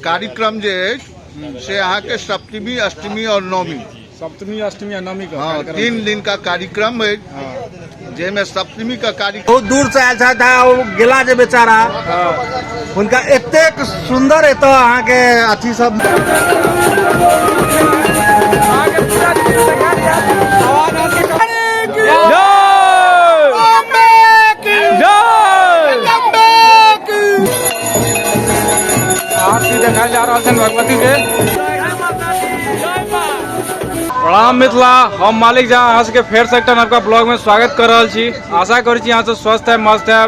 कार्यक्रम जे अछि से अहाँके सप्तमी अष्टमी और नवमी सप्तमी अष्टमी आ नवमी के हाँ कार्यक्रम तीन दिन का कार्यक्रम अछि हाँ। जाहिमे सप्तमी का कार्यक्रम बहुत दूर से आयल छथि आ ओ गेला जे बेचारा हुनका एतेक सुन्दर एतऽ अहाँके अथी सब आरती देखायल जा रहल छनि भगवती के प्रणाम मिथिला हम मालिक झा अहाँ सबके फेर से एकटा नवका ब्लॉग में स्वागत कर रहल छी आशा करै छी अहाँ सब स्वस्थ है मस्त है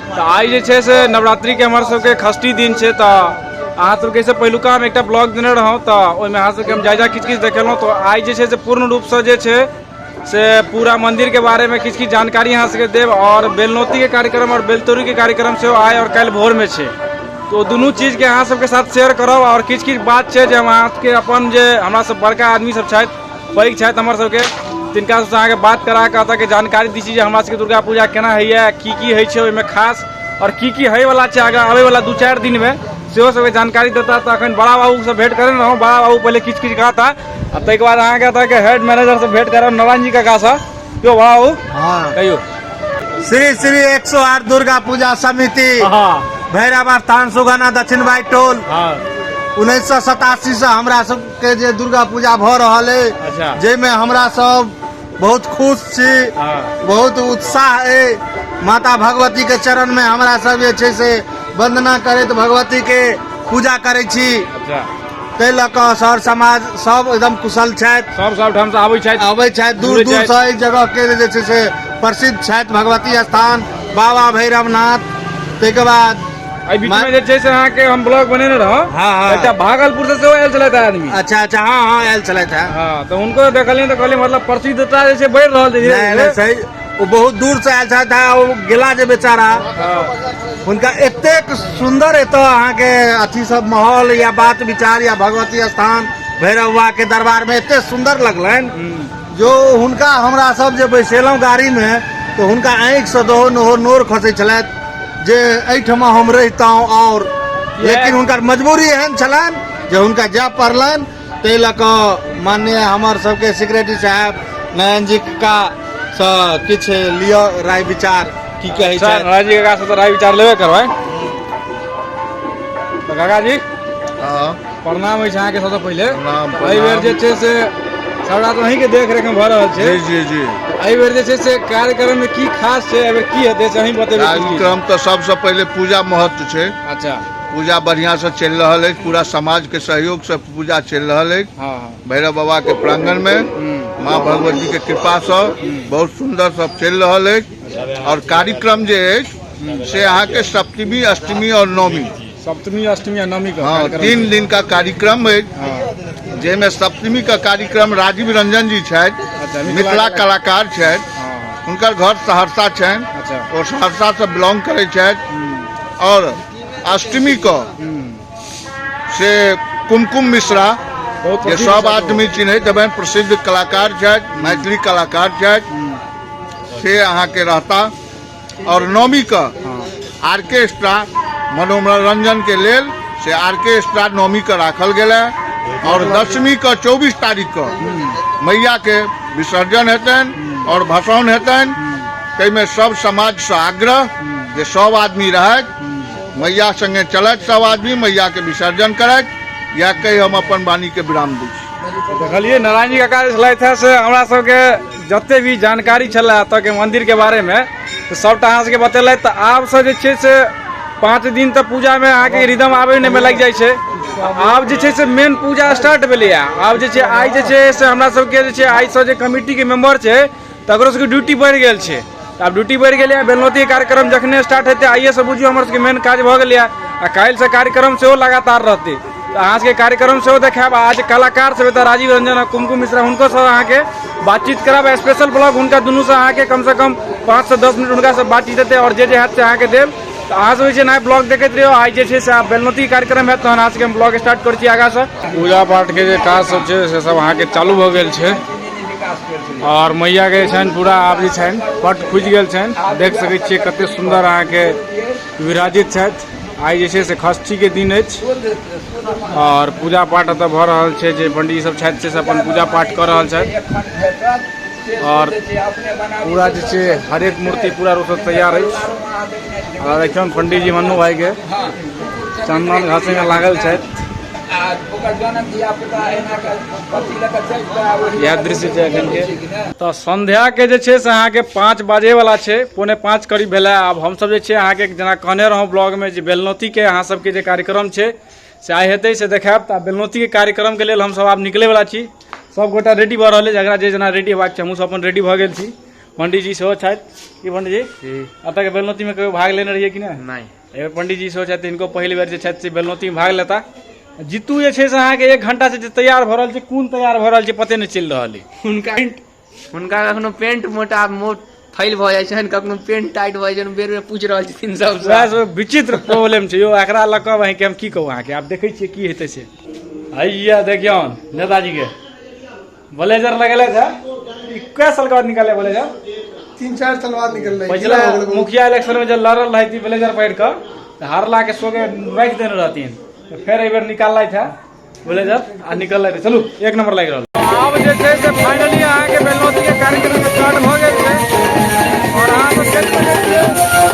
तऽ आइ जे छै से नवरात्रि के हमर सबके खष्टी दिन छै तऽ अहाँ सबके से पहिलुका हम एकटा ब्लॉग देने रहौं तऽ ओहिमे अहाँ सबके हम जायजा किछु किछु देखेलहुँ तऽ आइ जे छै से पूर्ण रूपसँ जे छै से पूरा मंदिर के बारे में किछु किछु जानकारी अहाँ सबके देब और बेलनौती के कार्यक्रम और बेलतोरी के कार्यक्रम सेहो आइ और काल्हि भोर में छै तो दुनू चीज के अहाँ सबके साथ शेयर करब और किछु किछु बात छै जे हम अहाँ सबके अपन जे हमरा सब बड़का आदमी सब छथि पैघ छथि हमर सबके तिनका सबसँ अहाँके बात करा कऽ एतऽ के जानकारी दी छी जे हमरा सबके दुर्गा पूजा केना होइए की की होइ छै ओहिमे खास और की की होयवला छै आगाँ आबयवला दू चारि दिनमे सेहो सबके जानकारी देता तऽ अखन बड़ा बाबूसँ भेंट करेने रहौं बड़ा बाबू पहिले किछु किछु कहता आ ताहिके बाद अहाँके एतऽके हेड मैनेजरसँ भेंट करब नारायण जी काकासँ यौ बड़ा बाबू हँ कहियौ श्री श्री एक सौ आठ दुर्गा पूजा समिति हँ भैरव स्थान सुगना दक्षिण बाई टोल हँ उन्नैस सौ सतासी से हमरा सबके जे दुर्गा पूजा भऽ रहल अच्छा। अछि जाहिमे हमरा सब बहुत खुश छी बहुत उत्साह अइ माता भगवतीके चरणमे हमरा सब जे छै से वंदना करैत भगवतीके पूजा करै छी अच्छा ताहि लऽ कऽ सर समाज सब एकदम कुशल छथि सब सब ठाम से आबै छथि अबै छथि दूर घुरै दूर छथि। से एहि जगह के जे छै से प्रसिद्ध छथि भगवती स्थान बाबा भैरवनाथ ताहिके बाद एहि बीच मा- में जे छै से अहाँ के हम ब्लॉग बनेने रहौ हाँ, हाँ। एकटा भागलपुर से सेहो आयल छलथि आदमी अच्छा अच्छा हाँ हाँ आयल छलथि है हाँ तो उनको देखलियै तऽ कहलियै मतलब प्रसिद्धता जे छै बढ़ि रहल छै धीरे नहीं धीरे। नहीं सही वो बहुत दूर से आयल छलथि है वो गेला जे बेचारा हाँ। हुनका एतेक सुंदर एतऽ अहाँके अथी सब माहौल या बात विचार या भगवती स्थान भैरव बाबा के दरबार में एते सुंदर लगलनि हम्म। जो हुनका हमरा सब जे बैसेलहुँ गाड़ीमे तऽ हुनका आँखिसँ दहो नहो नोर खसै छलथि जे एहिठमा हम रहितहुँ आओर लेकिन हुनकर मजबूरी एहन छलनि जे हुनका जाय पड़लनि ताहि लऽ कऽ माननीय हमर सबके सेक्रेटरी साहब नयन जी का सँ किछु लिअ राय विचार की कहै अच्छा, छथि नारायण जी काका से तो राय विचार लेबे करबै तो काका जी प्रणाम अछि अहाँके सबसँ पहिले प्रणाम, प्रणाम। एहि बेर जे छै से सबटा तऽ अहींके देख रेख मे भऽ रहल छै जी जी जी एहि बेर जे छै से कार्यक्रम मे की खास छै एहि बेर की हेतै से अहीं बतेबै की की? कार्यक्रम तऽ सबसँ पहिले पूजा महत्व छै अच्छा पूजा बढ़िआँसँ चलि रहल अछि पूरा समाजके सहयोगसँ पूजा चलि रहल अछि हँ हँ भैरव बाबाके प्राङ्गणमे हूँ। माँ भगवतीके कृपासँ बहुत सुन्दर सब चलि रहल अछि आओर कार्यक्रम जे अछि से अहाँके सप्तमी अष्टमी आओर नवमी सप्तमी अष्टमी आ नवमी के हँ कार्यक्रम तीन दिन का कार्यक्रम अछि हँ, जाहिमे सप्तमी का कार्यक्रम राजीव रंजन जी छथि अच्छा, मिथिला मिथिला कला- कलाकार छथि हँ, हुनकर घर सहरसा छनि अच्छा ओ सहरसा से बिलोंग करै छथि हम्म, और अष्टमी को हम्म, से कुमकुम मिश्रा बहुत जे प्रसिद्ध सब छथि ओ। आदमी चिन्हैत हेबनि प्रसिद्ध कलाकार छथि मैथिली कलाकार छथि हम्म, से अहाँके रहता आओर नौमी के आर्केस्ट्रा मनोरंजन के लेल से आर्केस्ट्रा नौमी के राखल गेल है और दसवीं के चौबीस तारीख के मैया के विसर्जन हेतन और भसान हेतन ताहिमे सब समाज से आग्रह जे सब आदमी रहथि मैया संगे चलथि सब आदमी मैया के विसर्जन करथि या कहि हम अपन वाणी के विराम दै छी देखलियै नारायण जी काका जे छलथि हे से हमरा सबके जते भी जानकारी छलै एतऽके मन्दिरके बारेमे तऽ सभटा अहाँ सभके बतेलथि तऽ आबसँ जे छै से पाँच दिन तऽ पूजामे अहाँके रिदम आबैमे लागि जाइ छै आब जे छै से मेन पूजा स्टार्ट भेलैए आब जे छै आइ जे छै से हमरा सभके जे छै आइसँ जे कमिटीके मेम्बर छै तकरो सभके ड्यूटी बढ़ि गेल छै आब ड्यूटी बढ़ि गेलै बेलनौती कार्यक्रम जखने स्टार्ट हेतै आइएसँ बुझियौ हमर सबके मेन काज भऽ गेलै आ काल्हिसँ कार्यक्रम सेहो लगातार रहतै तऽ अहाँ सबके कार्यक्रम सेहो देखायब आज कलाकार सब एतऽ राजीव रंजन आ कुमकुम मिश्रा हुनको सब अहाँके बातचीत करब स्पेशल ब्लॉग हुनका दुनू से अहाँके कम से कम पाँच से दस मिनट हुनका से बातचीत हेतै आओर जे जे हैत से अहाँके देब तऽ अहाँ सब जे छै ने ब्लॉग देखैत रहियो आइ जे छै से आब बेलनौती कार्यक्रम हैत तहन अहाँ सबके हम ब्लॉग स्टार्ट करै छी आगाँसँ पूजा पाठके जे काज सब छै से सब अहाँके चालू भऽ गेल छै और मैया के छनि पूरा आब जे छनि पट खुजि गेल छनि देख सकै छियै कते सुन्दर अहाँके विराजित छथि आइ जे छै से खष्ठी के दिन अछि और पूजा पाठ एतऽ भऽ रहल छै जे पंडित सब छथि से सब अपन पूजा पाठ कऽ रहल छथि और पूरा जे छै हरेक मूर्ति पूरा रूप से तैयार अछि और देखियौ पंडित जी मन्नू भाई के चंदन घासे में लागल छथि इएह दृश्य छै एखन के तऽ संध्या के जे छै से अहाँके पाँच बाजे वाला छै पौने पाँच करीब भेलै आब हमसब जे छै अहाँके जेना कहने रहौं ब्लॉग में जे बेलनौती के अहाँ सबके जे कार्यक्रम छै से आइ हेतै से देखायब तऽ बेलनौती के कार्यक्रम के लेल हमसब आब निकले वाला छी सब गोटा रेडी भऽ रहल अछि जकरा जे जेना रेडी हेबाक छै हमहूँ सब अपन रेडी भऽ गेल छी पंडीजी सेहो छथि की पंडीजी एतऽ के बेलनौती में कहियो भाग लेने रहियै कि नहि नहि एहिमे पंडीजी सेहो छथि हिनको पहिल बेर जे छथि से बेलनौतीमे भाग लेता जीतू जे छै से अहाँके एक घंटा से जे तैयार भऽ रहल छै कोन तैयार भऽ रहल छै पते नहि चलि रहल अइ हुनका हुनका कखनो पेंट मोटा मोट फैल भऽ जाइ छनि कखनो पेंट टाइट भऽ जाइ छनि बेर बेर पूछि रहल छथिन सब वएह सब विचित्र प्रॉब्लम छै यौ एकरा लऽ कऽ अहाँके हम की कहू अहाँके आब देखै छियै की हेतै से हैया देखियौन नेताजीके ब्लेजर लगेले था ई कै साल के बाद निकाले ब्लेजर तीन चार साल बाद निकल रही पिछला मुखिया इलेक्शन में जब लड़ल रही थी ब्लेजर पहन कर तो हारला के सो के रख देने रहती तो फिर एक बार निकाल लाई था ब्लेजर आ निकल लाई चलू एक नंबर लग रहा आब जे छै से फाइनली अहाँके बेलौती के कार्यक्रम स्टार्ट भऽ गेल छै और अहाँ सब देख सकै छियै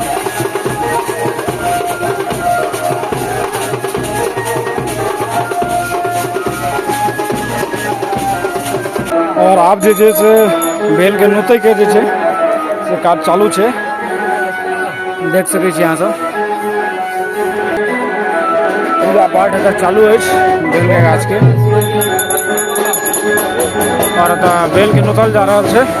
और आप जे छै से बेल के नोते के जे छै से काज चालू छै देख सकै छी अहाँ सब पूरा पाठ एतऽ चालू अछि बेल के गाछ के और एतऽ बेल के नोतल जा रहल छै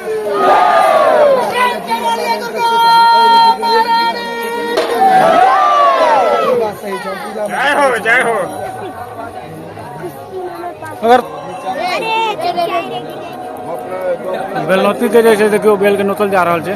अगर बेलनौती के जे छै देखियौ बेल के नोतल जा रहल छै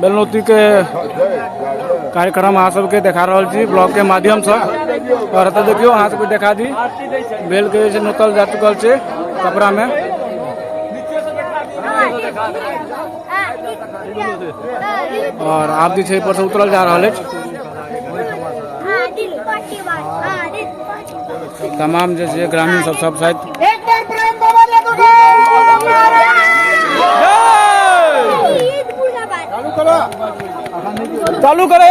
बेलनौती के कार्यक्रम अहाँ सबके देखा रहल छी ब्लॉग के माध्यम से और एतऽ देखियो अहाँ सबके देखा दी बेल के जे छै नोतल जा चुकल छै कपड़ा में और आब जे छै एहि पर से उतरल जा रहल अछि तमाम जे छै ग्रामीण सब सब छथि एक बार प्रेम बाबा ले तो चालू करो चालू करो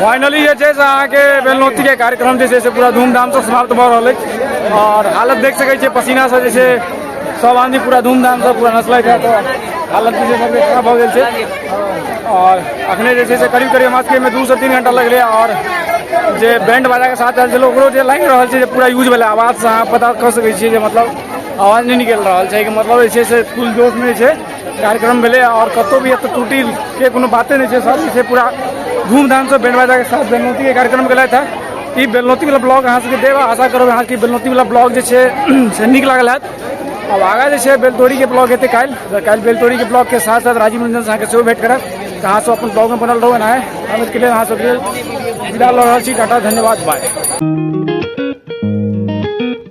फाइनली जे छै से अहाँके बेलनौतीके कार्यक्रम जे छै से पूरा धूमधामसँ समाप्त भऽ रहल अछि आओर हालत देख सकै छियै पसीनासँ जे छै सब आदमी पूरा धूमधामसँ पूरा नसलैत है तऽ हालत जे छै सबके खराब भऽ गेल छै आओर अखने जे छै से करीब करीब हमरा सबके एहिमे दूसँ तीन घंटा लगलै आओर जे बैंड बाजाके साथ आयल छलै ओकरो जे लागि रहल छै जे पूरा यूज भेलै आवाजसँ अहाँ पता कऽ सकै छियै जे मतलब आवाज नहि निकलि रहल छै एहिके मतलब जे छै से फुल जोशमे जे छै कार्यक्रम भेलै आओर कतहु भी एतऽ त्रुटिके कोनो बाते नहि छै सब जे छै पूरा धूमधामसँ बैंड बाजाके साथ बेलनौतीके कार्यक्रम केलथि हँ ई बेलनौतीवला ब्लॉग अहाँ सबके देब आशा करब अहाँके बेलनौतीवला ब्लॉग जे छै से नीक लागल हैत आब आगाँ जे छै बेलतोरीके ब्लॉग हेतै काल्हि तऽ काल्हि बेलतोरीके ब्लॉगके साथ साथ राजीव रंजनसँ अहाँके सेहो भेट करब तऽ अहाँ सब अपन ब्लॉगमे बनल रहू एना अमितके लेल अहाँ सबके विदा लऽ रहल छी टाटा धन्यवाद बाय